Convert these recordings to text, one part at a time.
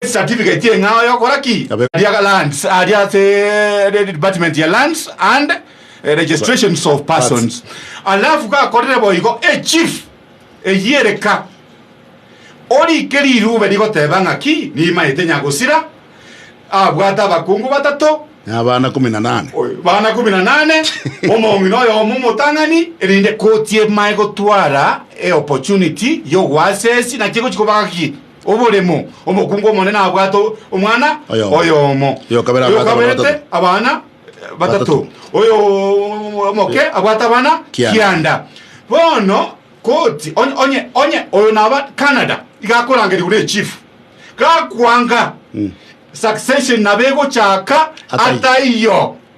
ecertificate y'eng'ao y'okora ki? Aria ga lands aria ase department ya lands and registrations of persons alafu gakorire boigo echief eyio ereka orike rirube rigoteba ng'aki nimaete nyagosira abwate abakungu batato Na abana kumi na nane. bana kumi na nane omong'ina oyomo omotang'ani erinde koti emae gotwara eopportunity y'ogoasesi naki egochi koba gaki Oboremo, omokungu omonene abwate omwana oyomo, oyokaberete abana batato, oyomoke abwate abana kianda. Bono koti onye onye oyo naba Canada iga akorangerigwa ne chief gakwanga succession nabo egochaka ataiyo.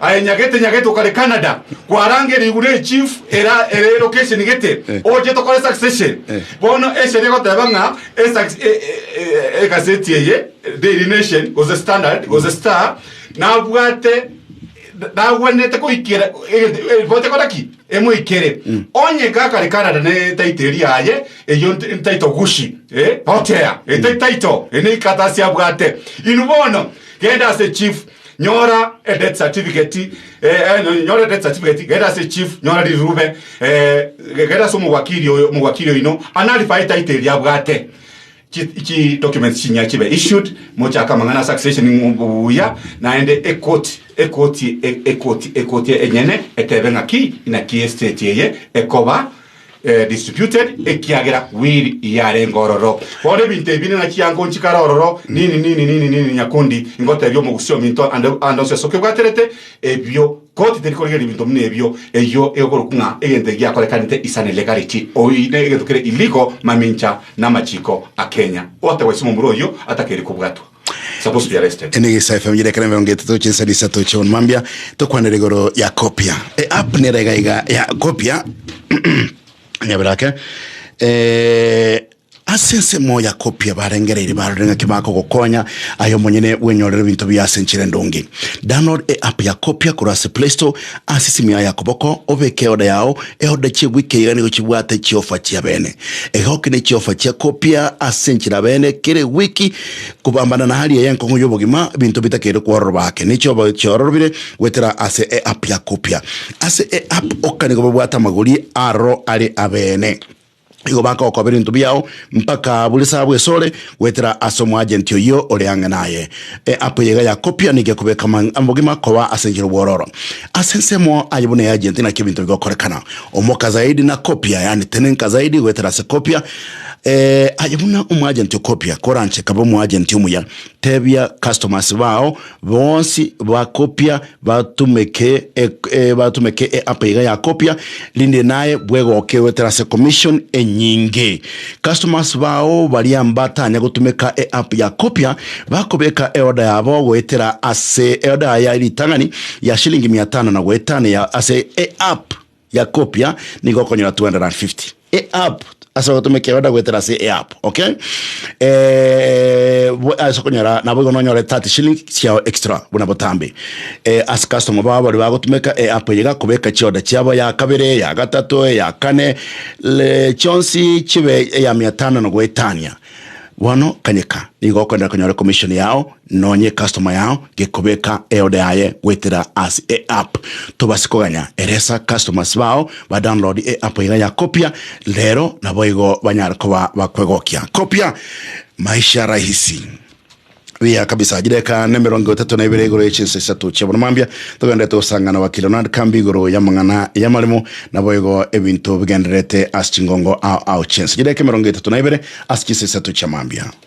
Aye nyagete nyagete okare Canada kwaranga erigure eye chief era ere location gete oche tokore succession bono eseri egoteba ng'a egaseti eye Daily Nation gose Standard gose Star nabwate nagwenerete koikera ripoti ekora ki emoikere onye gakare Canada ne title eri aye eyo title gushi hotel eri title eri ne ikatasi abwate inwe bono genda ase chief Nyora edeath certificate eh, eh, nyo- nyora edeath certificate genda ase chief nyora rirube eh, ge- genda ase omogwakiri oyo omogwakiri oino anarifae etaito eria abwate chi- chi documents chinya chibe issued mochaka amang'ana ase accession ng'u- buya naende ekoti ekoti e- ekoti ekoti enyene etebe ng'aki inaki estate eye ekoba disputed, ekiagera will yarenge ororo. Bono ebinto ebi ning'a chiango nchikare ororo, nini nini nini nini nyakundi ingotebia omogusi ominto ande ande onsi ase okebwaterete ebio koti teri korigereria ebinto buna ebio, eyio egokorokwa ng'a egento egiakorekanete is an illegality oine egento kere illegal mamincha namachiko a Kenya. Gotewa ase omomura oyio atakeri kobwatwa. Ene egesae FM yire ekero emerongo etato chinsari isato chiobonwa mambia tokwanera igoro ya kopia e app nere iga iga ya kopia nyabera ake eh, ase ensemo ya kopia barengereire barore ng'aki bakogokonya ayo monyene bwenyorere ebinto bia ase enchera endonge download e app ya kopia korwa ase play store ase esimu yao ya koboko obeke eoda yao eoda chiegwika iga nigo chibwate chiofa chia bene egokina chiofa chia kopia ase enchera bene kere wiki Kobambana na hali eye enkong'u y'obogima, ebinto bitakeire kwororwa ake, ne chiobagio chiororobire goetera ase eApp ya Kopia. Ase eApp oka nigo babwate amagori aroro are abeene. Igo bakokoba ebinto biao mpaka buri saa bwesore goetera ase omoagenti oyio ore ang'e naye. Eapp eye iga ya Kopia nigo ekobeka obogima koba ase enchera obwororo. Ase ensemo aye buna eagenti naki ebinto bigokorekana. Omoka zaidi na Kopia, yaani tenenka zaidi goetera ase Kopia, Eh, aye buna omwajenti okopia, koranche kabe omwajenti omuya. Tebia customers bao bonsi bakopia batumeke e, e, batumeke e app iga yakopia, rinde naye bwegoke goetera ase commission enyinge. Customers bao baria mbatanya gotumeka e app yakopia bakobeka eoda yabo goetera ase eoda ya ritang'ani ya shilingi mia tano na goetana ya ase e app ya kopia nigo okonyora 250 e app ase ogotomekera oda goetera ase e app okay eh, bo- ase okonyora nabo igo nonyore 30 shilling chiao extra buna botambe eh, ase customer bao bari bagotumeka e app eye gakobeka chioda chiabo ya kabere ya gatato ya kane le chionsi chibe eya mia tano na goetania bono kanyeka nigo okonyora konyora commission yao Nonya ecustoma yao gekobeka eode yaye goetera ase eapp, tobase koganya eresa customers bao ba download eapp iga ya Copia rero naboigo banyare koba bakwegokia. Copia, maisha rahisi. Buya kabisa, chideka nemerongo etato na ibere igoro yechinsa isato chiabona mambia togenderete gosangana wakili Ronald Kambi igoro yamang'ana yamaremo naboigo ebinto bigendererete ase chingongo ao ao chinsa chideka emerongo etato na ibere ase chinsa isato chiamambia.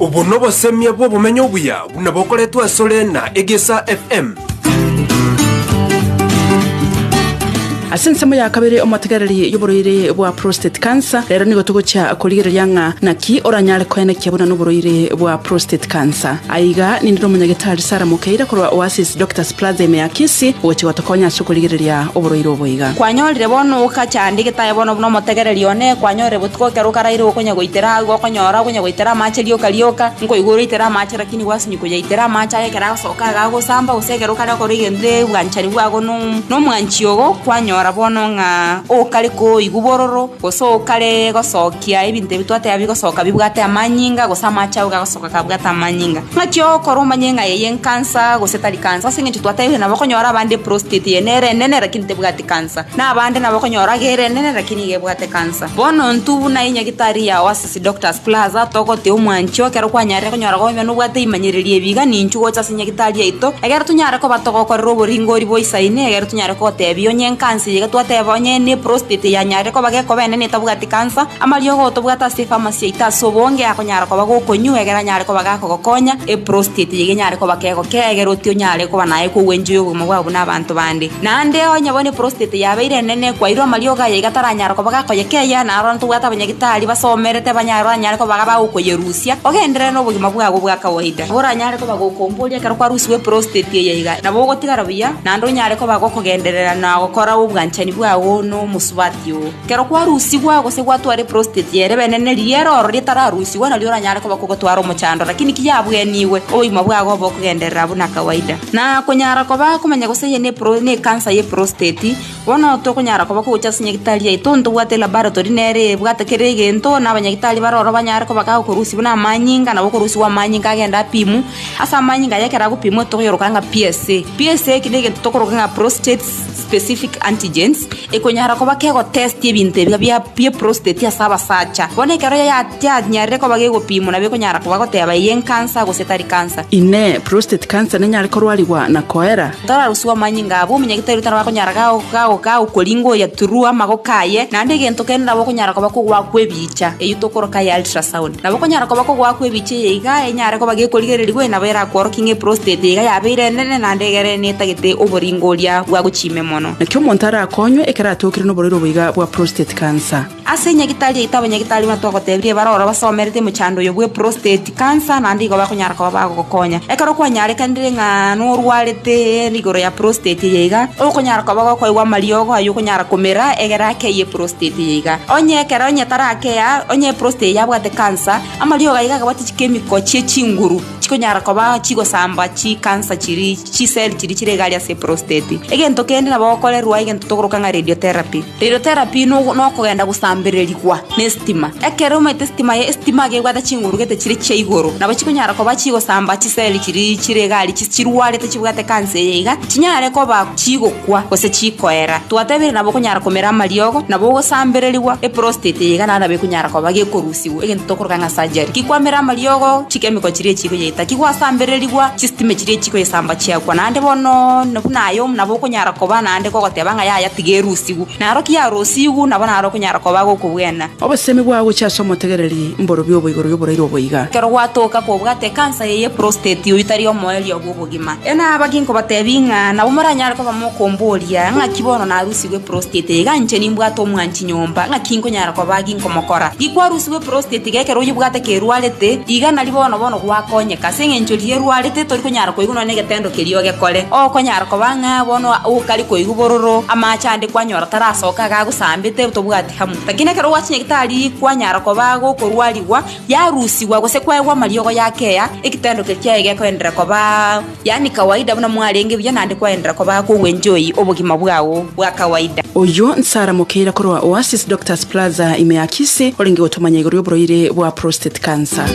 Obo nobosemia bw'obomenyo obuya buna bokoretwe asore na Egesa FM. Ase ensemo ya kabere omotegereri y'oborwaire bwa prostate cancer rero nigo togochia korigereria ng'a naki oranyare koenekia buna noborwaire bwa prostate cancer aiga nindire omonyagetari Sarah Mukeire korwa Oasis Doctors Plaza ime ya Kisii ogochia gotokonya ase Tokorigereria oborwaire obo iga. Kwanyorire bono ogachandia egetaai bono buna omotegereri one, kwanyorire botuko ekero okaraire okonya goitera agwo okonyora okonya goitera amache rioka rioka, nkoigwa oraitera amache lakini gwasinywa koyaitera amache aye ekero agosoka iga agosamba gose ekero okare gokora egento ebwanchani bwago no nomwanchi ogo kwanyora bono ng'a okare koigwa bororo gose okare gosokia ebinto ebi twateba bigosoka bibwate amanyinga gose amache ago gagosoka. Bakabwata amanyinga. Naki ogokora omanye ng'a eye enkansa gose tari kansa, ase engencho twatebire nabokonyora abande eprostate eye nere enene lakini tebwati kansa, na abande nabokonyora age ere enene lakini iga ebwate kansa. Bono intwe buna enyagitari yao ase Sidoctors Plaza togotea omwancho ekero kwanyarire konyora koba ime nobwate ebimanyererio ebi iga ninchu gocha ase enyagitari yaito egere tonyare koba togokorera oboringori boisaine egere tonyare kogotebia onye enkansa eye iga twateba onye neprostate yanyarire koba gekoba enene etabwati ekansa, amariogo otobwate ase efamasi yaito ase obonge akonyara koba gokonywa egere anyare koba gakogokonya, eprostate yaito enyare koba kegokea egere otie onyare koba naye kogwenchoyia obogima bwabo buna abanto bande. Naende onye bono eprostate yabeire enene ekwaire amariogo aya iga taranyara koba gakoyekeyia naro bono tobwate abanyagitari basomerete abanya baranyare koba iga bagokoyerusia ogenderere nobogima bwabo bwa kawaida. Nabo oranyare koba gokomboria ekero kwarusiwa eprostate eye iga nabo ogotigara buya naende onyare koba gokogenderera na gokora obwanchani bwao nomosubati oo. Ekero kwarusigwa gose gwatwara eprositeti ere benene, riera oro ritararusigwa nario oranyare koba kogotwara omochando, lakini ki yabwenigwe, obogima bwago obe okogenderera buna kawaida. Na konyara koba komanya gose eye nepro nekansa y'eprositeti, bono tokonyara koba kogocha ase nyagitari yaito ntobwate laboratory nere ebwate kera egento, na abanyagitari bare oro banyare koba ga okorusia buna amanyinga nabo okorusigwa amanyinga agende apimwe. Ase amanyinga aya ekero agopimwa tokoyoroka ng'a PSA. PSA eki negento tokoroka ng'a prostate specific antigens. Ekonyara koba kegotesti ebinto ebiya bia eprostate ase abasacha. Bono ekero yanyarire koba gegopimwa nabo ekonyara koba goteba eye encancer gose tari cancer. Inee! Prostate cancer nenyare korwarigwa na koera? Toraroswe amanyinga abwo, omonyaga tari gotana bakonyara gagokoringoria through amagoko aye, naende egento kende nabo okonyara koba kogoaka kw'ebicha eyio tokoroka eye ultrasound. Nabo okonyara koba kogoaka kw'ebicha eye iga enyare koba gekorigereri gose nabo erakworokie ng'a eprostate iga yabeire enene naende egere netagete oboringoria bwa gochima emono. Naki omonto arakonywe ekero atokire noborwaire obo iga bwa prostate cancer. Ase enyagitari yaito abanyagitari buna twagotebirie bare ororo basomerete mochando oyo bwe prostate cancer naende igo bakonyara koba bagogokonya. Ekero kwanyarekanire ng'a norwarete igoro ya prostate eye iga, okonyara koba gokoigwa amariogo ayio okonyara komera egere akeye prostate eye iga. Onye ekero onye tarakeya, onye prostate eye yabwate cancer, amariogo ayio iga agabwate chikemiko chie chinguru. chikonyara koba chigosamba chikansa chiria chiseli chiria chire igare ase eprosteti egento kende nabo okorerwa egento tokoroka ng'a radiotherapy radiotherapy no nokogenda gosambererigwa ne estima ekero omanyete estima ye estima iga ebwate chinguru gete chire chia igoro nabo chikonyara koba chigosamba chiseli chiria chire egari chi chirwarete chibwate ekansa eye iga chinyare koba chigokwa gose chikoera twatebire nabo okonyara komera amariogo nabo ogosambererigwa eprosteti eye iga naende nabo ekonyara koba gekorusiwa. Egento tokoroka ng'a surgery. Kikwamera amariogo, chikemiko chiria echi chikoyaita. Kigwasambererigwa, chisitime chiria echi chikoyesamba chiakwa. Naende bono na buna aye omo nabo okonyara koba naende kogoteba ng'a yaya tiga erusigwe. Naro ki yarosigwe, nabo naro okonyara koba agokobwena. Obosemi bwao gochia ase omotegereri mborobio obo igoro y'oboraire obo iga. Ekero gwatoka kobwate ekansa eye ya prostate, oyio tari omoerio bw'obogima. Enaba ki nkobatebia ng'a nabo moranyare koba mokomboria, Ng'aki bono narusigwe eprostate eye, iga inche nimbwate omwanchete? nyomba, ng'a kinkonyara kobaa ginkomokora. Gikwarusigwe eprosteti geke ekero oyebwate kerwarete, iga nari bono bono gwakonyeka. Ase engencho riria erwarete, tori konyara koigwa nonya negetendo keria ogekore. Okonyara koba ng'a bono okare koigwa bororo, amache ande kwanyora tarasoka iga agosambete tobwati hamu. Lakini ekero gwachinyegete tari kwanyara kobaa gokorwarigwa, yarusigwa gose kwaegwa amariogo yakeya, egetendo keria kiaye gekoenderera kobaa. Yaani kawaida buna mwarenge buya naende kwaenderera koba ake ogwenjoy obogima bwao bwa kawaida. Oyio Nsara Mokeira korwa Oasis Doctors Plaza ime ya Kisii orenge gotomanya igoro y'oborwaire bwa prostate cancer.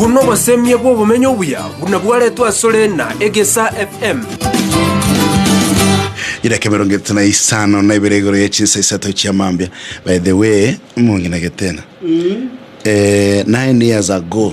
Obwo nobosemie bw'obomenyo obuya buna bwaretwe asore na Egesa FM. Edaka emerongo etato na isano na ibere igoro ye chinsa isato chia mambia by the way mongenegete na eh, nine years ago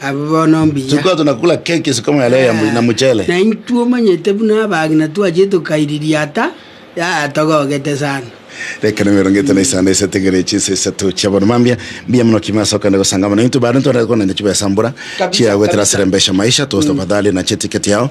Abwo bono mbuya. Tulikuwa tunakula keki siku moya leo ya mu- na mchele. Na intwe omanyete buna abagina twachire tokairiria ata yatogogete sana. Rekana mirongo ete na isano esetigere chinsa isato chia bono mambia mbuya muno kime ase okogenda gosanga mono intwe bare ntwarete konanya chibesa mbura Kabisa, chiagoetera kabisa. asere mbesha maisha toast tafadhali na chetiketi yao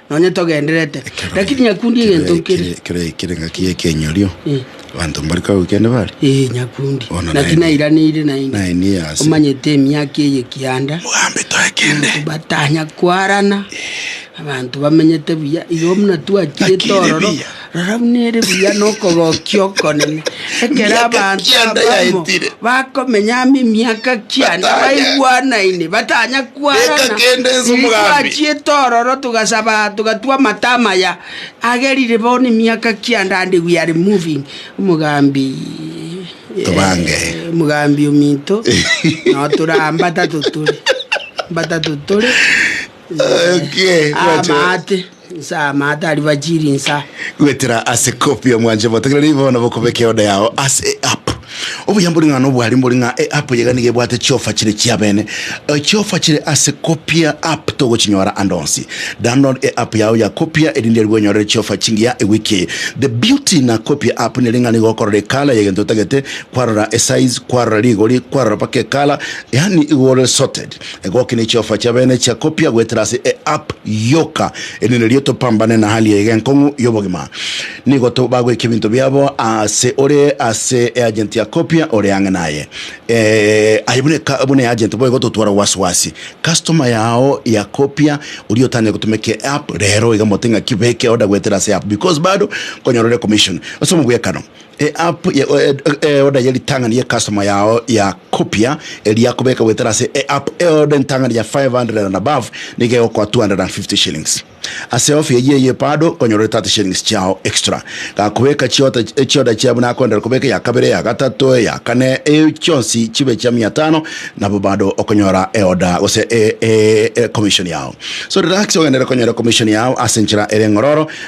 Nonye togenderete, lakini nyakundi egento nkere. Kere kere ngaki ekenyorio Eh. bantu mbari kago kende bari Ee, nyakundi. Bono Naki naende. nairaneire naende. Naende yase. Omanyete emiaka eye kianda. Mogambe toe kende Batanya kwarana. Abanto bamenyete buya. Igo buna twakire Twakire tororo. buya. Rora buna ere buya nokogokia okonene, ekero abanto abamo bakomenya amo emiaka kianda baigwanaine, batanya kwarana, riria twachiete ororo togasaba aa togatwa amato amaya, agerire bono emiaka kianda and we are moving, omogambi Tobange. omogambi ominto nao tore aa mbatato tore, mbatato tore Okay, gwacha. amaate. Insa amato ariba chiri insa. Gwetera ase copy omwanche motegerere ibe bono bokobeka eoda yao ase eapp. Obuya mbori ng'a nobwari mbori ng'a eapp iga nigo ebwate chiofa chire chiabene. Chiofa chire ase copia app togochinyora ande onsi. Download eapp yao ya copia erinde aria bwenyorere chiofa chingiya ewiki eye. The beauty na copia app nere ng'a nigo okorora ecolour yegento otagete, kwarora esize, kwarora rigori, kwarora mpaka ecolour, yaani igo ore sorted. Egoki ne chiofa chia bene chia kopia goetera ase e app yoka erinde erio topambane na hali eye enkong'u y'obogima. Nigo bagweka ebinto biabo ase ore ase e agent ya kopia ore ang'e naye. Eh, aye buna eka- buna e agent boigo totwara wasiwasi. Customer yao ya kopia oria otang'e gotumeka e app rero iga mote ng'aki beke order goetera ase app because bado konyorere commission ase omogwekano. Eapp y'eoda ye ritang'ani ye customer yao ya Copia eria kobeka goetera ase eapp y'eoda entang'ani ya 500 and above nigo egokoa 250 shillings. Ase offer eyio eye bado nkonyora ore 30 shillings chiao extra. Gakobeka chiota chioda chia buna akoendera kobeka eya kabere, eya gatato, eya kane eyio chionsi chibe chia mia tano nabo bado okonyora eoda gose commission yao. So relax ogenderere konyora commission yao ase enchera ere ng'ororo.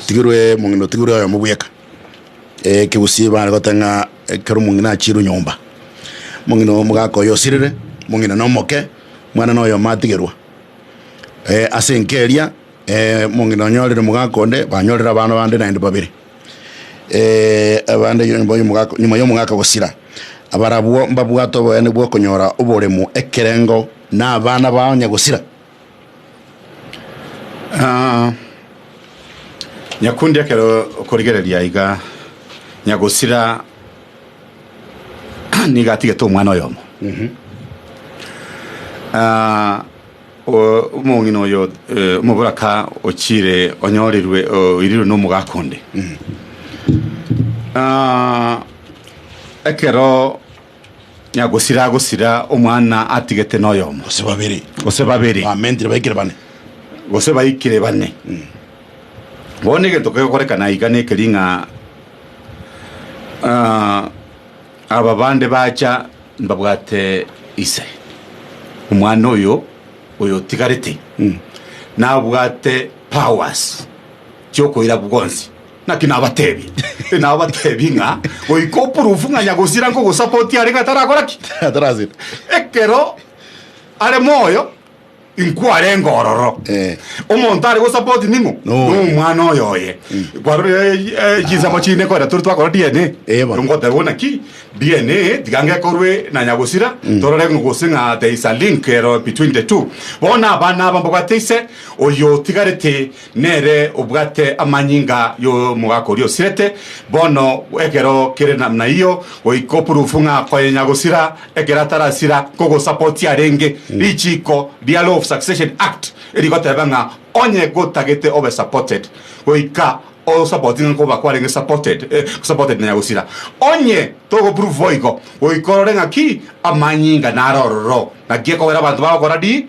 otigirwe omong'ina otigirwe oyomo bweka ekegusii bare gote ng'a ekero omong'ina achire nyomba omong'ina omogaka oyo osirire omong'ina nomoke omwana noyomo atigerwa ase enka eria omong'ina onyorire omogaka onde banyorire abana bande naende babere abande nyuma ya omogaka gosira abarabwo mbabwate oboyene bwa okonyora oboremo ekerengo na abana bao onye gosira. Ah, nyakundi ekero okorigereria iga nyagosira nigo atigete omwana oyomo Ah, o- omong'ina oyo eh, omoboraka ochire onyorirwe oirirwe nomogaka onde Ah, ekero na gosira agosira omwana atigete noyomo, gose babere, gose babere, bamentire baikire bane. gose baikire bane. Bono egento kegokorekana iga nekeri ng'a ah, aba bande bacha mbabwate ise omwana oyo oyo otigarete nabwate powers chiokoira bwonsi. Naki nabateebie, nabateebie ng'a goika opurufu ng'a nyagosira nkogosapotia are ng'a tarakora ki? Atarasira. Ekero are moyo inkwarenge ororo. Eh. Omonto are gosapoti ning'o? Noyo. Nomwana oyo oye. Kwarore eh, eh, chinsemo chine koera tore twakora DNA. Eh, bono. Ngoteba bona ki DNA tiga ngekorwe na nyagosira torore ng'o gose ng'a there is a link ero between the two. Bono abana aba mbabwate ise oyo otigarete Nere obwate amanyinga y'omogaka oria osirete bono ekero kere namna eyio, goika opurufu ng'a koyenya gosira ekero atarasira, kogosapotia arenge richiiko ria Law of Succession Act erigoteba ng'a onye gotagete obe supported goika osapoti ng'a nkoba kwarenge supported supported na nyagosira. Onye togopurufu boigo, goika orore ng'a ki amanyinga naro ororo, naki ekogera abanto bagokora di.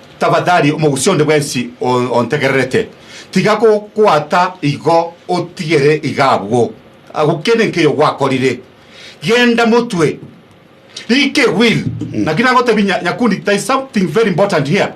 Tafadhali omogusii onde bwensi ontegererete, tiga gokobwata igo, otigere iga abwo, agokende nkeiyo gwakorire. Genda motwe. Rika eguiri. Naki nagotebi nya, nyakundi, there is something very important here.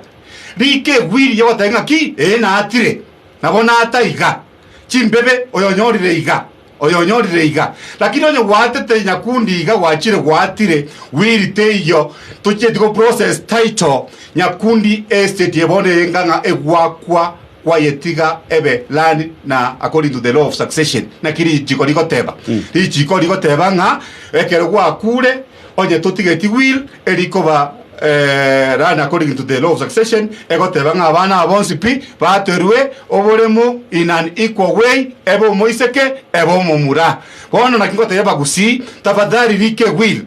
Rika eguiri yogotebia ng'aki, ee, naatire, nabo naata iga, chimbebe, oyonyorire iga. Oyonyorire iga, lakini onye gwaatete nyakundi iga gwachire gwaatire will teiyo tochieti go process title nyakundi estate ye bono eye ng'ang'a egwakwa kwayetiga ebe land na according to the law of succession naki richiko rigoteba richiko rigoteba ng'a ekero gwakure Onye totigeti will eri koba run according to the law of succession, egoteba ng'a abana aba bonsi pi baterwe oboremu in an equal way, ebe omoiseke, ebe omomura. Bono naki ngotebia bagusii, tafadhali rika ewill.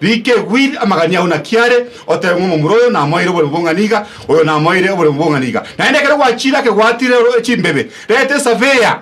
Rika ewill amagania ao naki are, otebe ng'a omomura oyo namoeire oboremu bong'ani iga, oyo namoeire oboremu bong'ani iga. Naende ekero gwachire akegwatire chimbebe, reta esurveyor,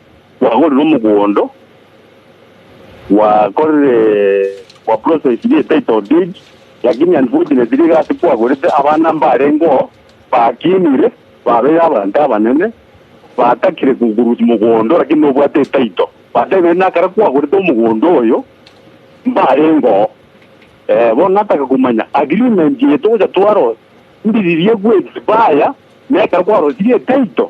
Gwagorire omogondo, gwakorire gwa process ye title deed, lakini unfortunately egasi kwagorete abana mbarengeo bakinire babeire abanto abanene, batakire kogurwa omogondo lakini nobwate etitle. Batebire na ekero kwagorete omogondo oyo mbarengeo. Eh, bono nataka komanya agreement eye togocha twarosia ndiririe go expire na ekero kwarosirie etitle.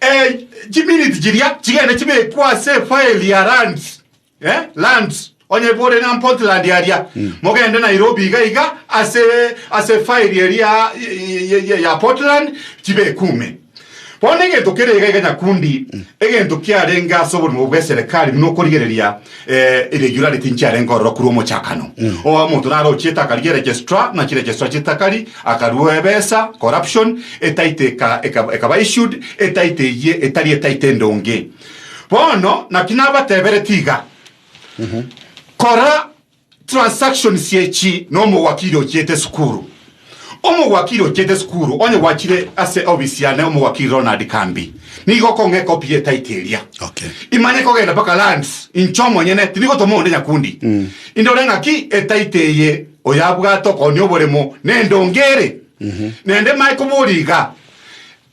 Eh, chiminiti chiria chigende chibekwe ase efaeli ya lands eh, lands onye bore na Portland aria mogende Nairobi iga iga ase ase efaeli eria ya- ya- ya- ya Portland chibekume bono egento kere iga iga nyakundi egento kiarenge ase oborimo bw'eserekari buna okorigereria Eh, eria igoro arete nchiarenge ororo korwa omochakano oa omonto narochiete akarigia registrar ng'a chiregistrar chitakari akarua ebesa corruption etaito eka- eka- ekaba issued etaito eyie etari etaito endonge bono naki nabatebereti iga kora Transactions echi nomowakiri ochiete sukuru. Omowakiri ochiete sukuru onye gwachire ase obisi yane omowakiri Ronald Kambi nigo okong'a ekopi ye title eria. Okay. Imanye kogenda mpaka lands inche omonyene tindi gotoma onde nyakundi. Mm. Indore ng'aki etaito eye oyabwate okonia oboremo nendonge ere. Mm -hmm. Nende mae kobori iga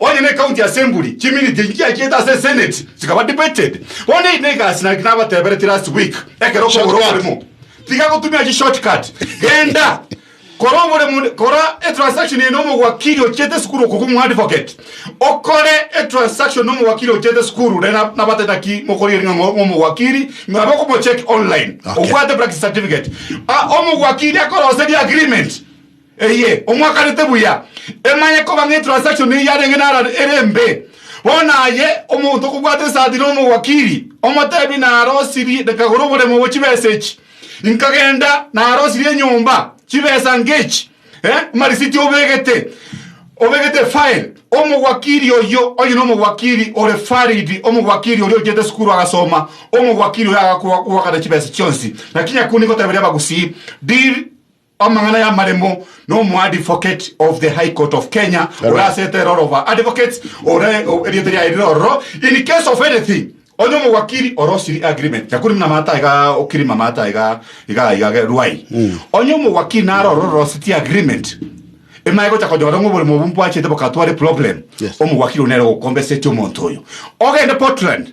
Onye necounty assembly chiminiti echi chiachiete ase esenate chikaba debated, bono eri negasi naki nabatebereti last week, ekero okogora oboremo tiga gotumia chi short cut, genda kora oboremo kora etransaction eye nomowakiri ochiete esukuru okobua omoadvocate okore etransaction nomowakiri ochiete esukuru naye nabatete naki mokori eri ng'a omowakiri abe okomocheck online Okay. obwate practice certificate Ah, omowakiri akoroseria agreement Eye omwakanete buya, emanye koba ng'a etransaction eyio yarenge narare ere embe. Bono aye omonto okobwata esati na omowakiri, omotebi narosirie nekagora oboremo bwe chibesa echi, inkagenda narosirie enyomba chibesa ngechi, eh, amarisiti obegete, obegete efile, omowakiri oyio onye nomowakiri ore valid, omowakiri oria ochiete esukuru agasoma, omowakiri oyo agakobwakana chibesa chionsi. Naki nyakunde ingoteberia abagusii, deal, Amang'ana y'amaremo n'omoadvocate of the High Court of Kenya ore ase etera ore oba advocate ore erieta riaye rire ororo in case of anything onye omowakiri ore osiri agreement yakuri muna mata iga okirima mata iga iga iga ge ruai onye omowakiri nare ororo orositi agreement emaye gocha konyora ng'a oboremo obwo mbwachete bokatware problem Yes. omowakiri one ere gokombeseti omonto oyo ogende Portland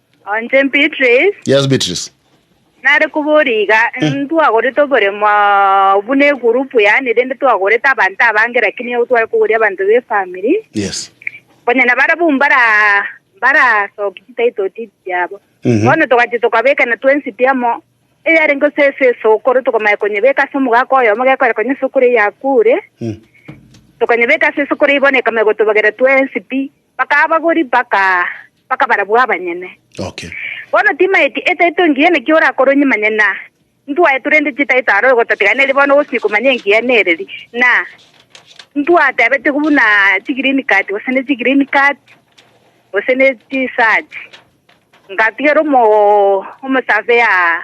Onche Beatrice, Yes, Beatrice. nare koboria iga, ntwagorete oboremo buna egurupu yaane, rende twagorete abanto abange lakini ego tware koboria abanto b'efamiri, Yes. konya nabarabwo mbara mbarasoki chitaito titi chiabo Mhm. bono togachi tokabekana twensi piamo eyarenge ase ase esokoro tokamanya konyebeka ase omogaka oyomo gekore konya esokoro eyakure Mm. tokanyebeka ase esokoro eye bono ekamanya gotobagera twensi pi Bakabagori mpaka bakabarabwo abanyene. Okay. Bono timaeti etaito engiya naki orakoronye manye na ntwaetu rende chitaito aro ogototiganeria bono ogochia komanya engiya nereri na ntwatebete buna chi green card gose ne chi green card gose ne chi search ngatigera omo omo surveyor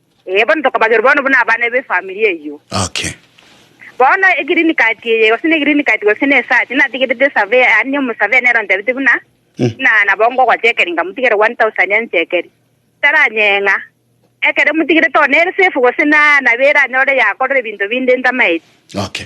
Ee, bono tokobagerwa bono buna abana b'efamiri eyio. Okay. Bono egreen card eye, gose ne green card gose ne search, natigerete esavea, yaani omosavea nere ontebete buna, buna nabo ngogochekeri ngamotigere 1000 anchekeri. Taranyeng'a. Ekero emotigerete one ere safe gose na nabo eranyore yakorora ebinto binde ntamaeti. Okay.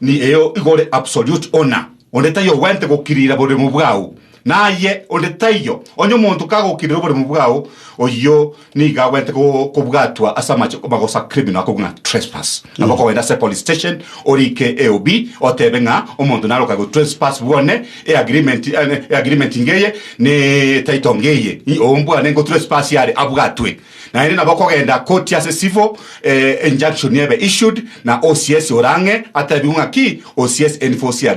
Ni eye igo ore absolute owner, onde taiyo ogwenerete gokirira oboremu bwao, na aye onde taiyo. Onye omonto kagokirira oboremu bwao, oyio nigo agwenerete kobwatwa ase amache magosa criminal akorwa ng'a trespass. Nabo okogenda ase police station orike AOB otebe ng'a omonto nare okaigwa trespass bwane e agreement e agreement ngeye ne title ngeye. Ombwane ngo trespass are abwatwe. Naende nabo okogenda koti ase civil injunction ebe issued na OCS ore ang'e atebigwe ng'a ki OCS enforce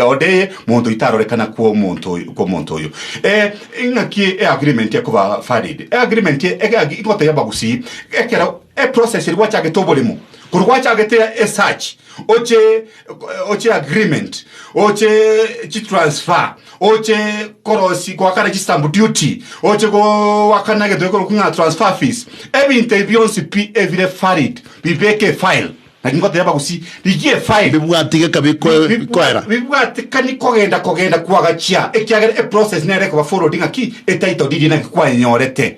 order eye monto itarorekana kw'omonto oyo kw'omonto oyo. Ng'aki eagreement ekoba valid? Eagreement egagi igotebia abagusii ekero eprocess eria gwachagete oboremo korwa gwachagete esearch oche oche agreement, oche chitransfer, oche korosi goakana chistamp duty, oche goakana egento gekorokwa ng'a transfer fees, ebinto ebi bionsi pi ebire valid bibeke efile. Naki ngoteeba gusii, rigia efile Bibwati geka bikoe- Bibwa- bikoera. bibwatikani kogenda kogenda kwagachia ekiagera eprocess nere ekoba followed ng'aki etitle deed naki kwayenyorete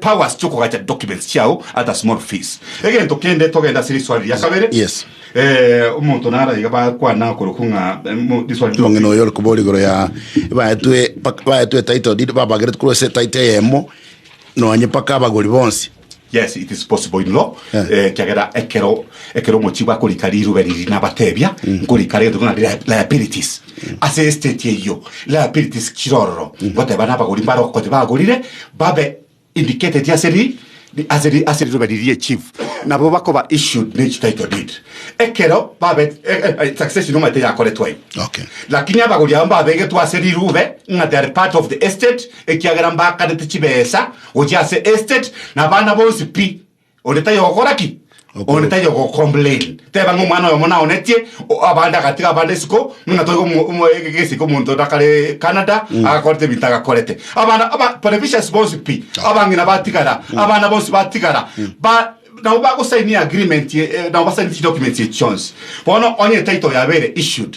powers chiokogacha documents chiao at a small fees. Egento kende togende ase riswali ria kabere. Yes. Eh, omonto naro iga bakwana korokwo ng'a eh, mo- riswali ria omong'ina oyo ore kobora igoro ya baetwe pak- baetwe title deed babagerete korwa ase title eyemo nonye paka abagori bonsi yes it is possible in law Yeah. eh, kiagera ekero ekero omochi bakorika riruba riri nabatebia nkorika rero ng'a li- liabilities Ase esiteti eyio, liabilities chire ororo goteba nabagori mbare okonya bagorire babe indicated ase ri ri- ase ri- ase riroba riria echief nabo bakoba issued ne echi title deed ekero babe eh, eh, eh, succession omanyete yakoretwe aye Okay. lakini abagori abo mbabegetwe ase rirube ng'a they are part of the estate ekiagera mbakarete chibesa gochia ase estate na abana bonsi pi Onde taiyo ogokora ki? Onde taiyo ogocomplain. Teba ng'a omwana oyomo naonetie o- abande agatiga abande isiko, ng'a toigo omo- omo- ege- egesike omonto onde akare Canada agakorete ebinto agakorete. Abana aba televisions bonsi pi, abang'ina batigara, abana bonsi batigara, ba nabo bagosainia agreement ye- eh, nabo basainie chidocuments echi chionsi. Bono onye title oyo abeire issued,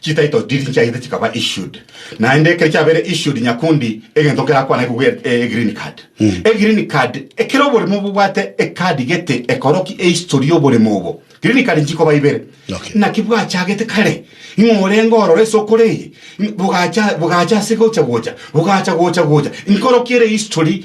Chititle deed nchiagete chikaba issued, naende ekero chiabeire issued nyakundi egento nkerakwane kobua e- e green card. E green card, ekero oboremo bobwate e card gete ekoroki e history y'oboremo obo. Green card nchikoba ibere. Okay. Naki bwachagete kare, ing'o orenge ororo ase okore eye, bogaacha bogaacha ase gocha gocha, bogaacha gocha gocha, nkoroki ere history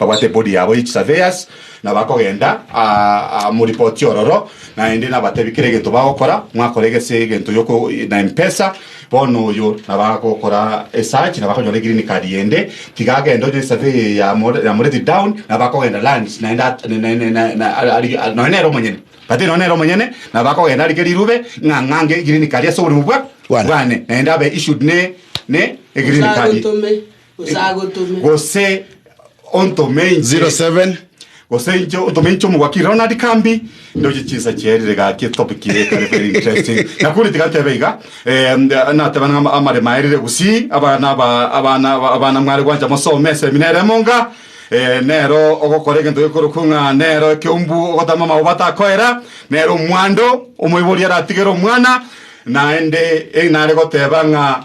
Babwate body yabo ye chisurveyors na bakogenda aa moripoti ororo naende nabatebi kera egento bagokora mwakora egese egento yoko na empesa bono oyo nabagokora esachi na bakonyora egreen card yende tiga agende onye esurvey eye yamore yamoreti down na bakogenda lands naende at nonya nere omonyene but nonya nere omonyene na bakogenda arike rirube ng'a ng'ange egreen card ase oborimo bwa bwane naende abe issued ne ne egreen card. Gose agotome. gose ontome inche 07 gose inche otome inche omogwaki rero nari kambi ndoche chinsa chiaerire gaki etopic ire ekare very interesting nakuri tigatebe iga eh, nda- natebe nang'a ama- amare maerire gusii abana aba- abana aba- abana mware gwancha mosome esemina ere emonga eh, nero ogokora egento gekorokwa ng'a nero ekeumbu ogotama amauba atakoera nero omwando omoibori aratigere omwana naende eh, nare goteba ng'a